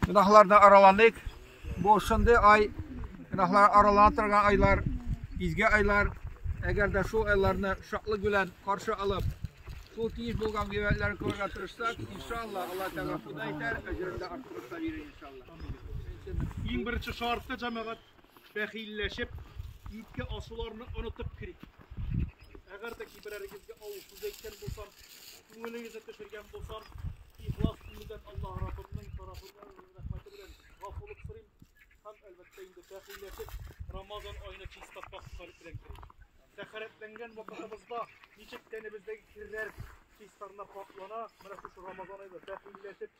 Гөнаһларны араланыйк. Бу шундый ай, гөнаһлар аралана торган айлар, изге айлар. Әгәр дә шул айларны шатлык белән каршы алып, шул тиеш булган гыйбадәтләрне күрергә тырышсак, иншалла, Алла Тәгалә худай итәр, әҗерен дә арттырып та бирер иншалла. Иң беренче шартта җәмәгать Бәхилләшеп, ике асуларны онытып керик. Әгәр дә киберәрегезгә авыр сүз әйткән булсам, күңелегезне төшергән булсам, ихлас күңелдән Аллаһ Раббымның тарафыннан рәхмәте белән гафулык сорыйм һәм, әлбәттә, инде бәхилләшеп, Рамазан аена чиста пакь калеб белән керик. Тәхәрәтләнгән вакытыбызда ничек тәнебездәге керләр чистарына пакьлана, менә шушы Рамазан аенда бәхилләшеп,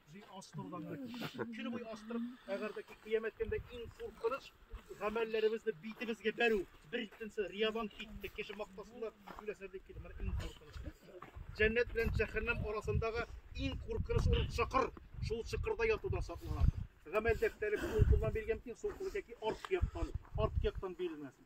Көне буе астырып, әгәр дә кыямәт көндә иң куркыныч гамәлләребезне битебезгә бәрү, бер икенче риядән китте, кеше мактасыннар, сөйләсәр дип килде. Менә иң куркыныч. Җәннәт белән җәһәннәм арасындагы иң куркыныч урын чокыр. Шул чокырда ятудан саклана. Гамәл дәфтәре кулдан биргән кин сулкылы яки арт яктан, арт яктан бирелмәсен.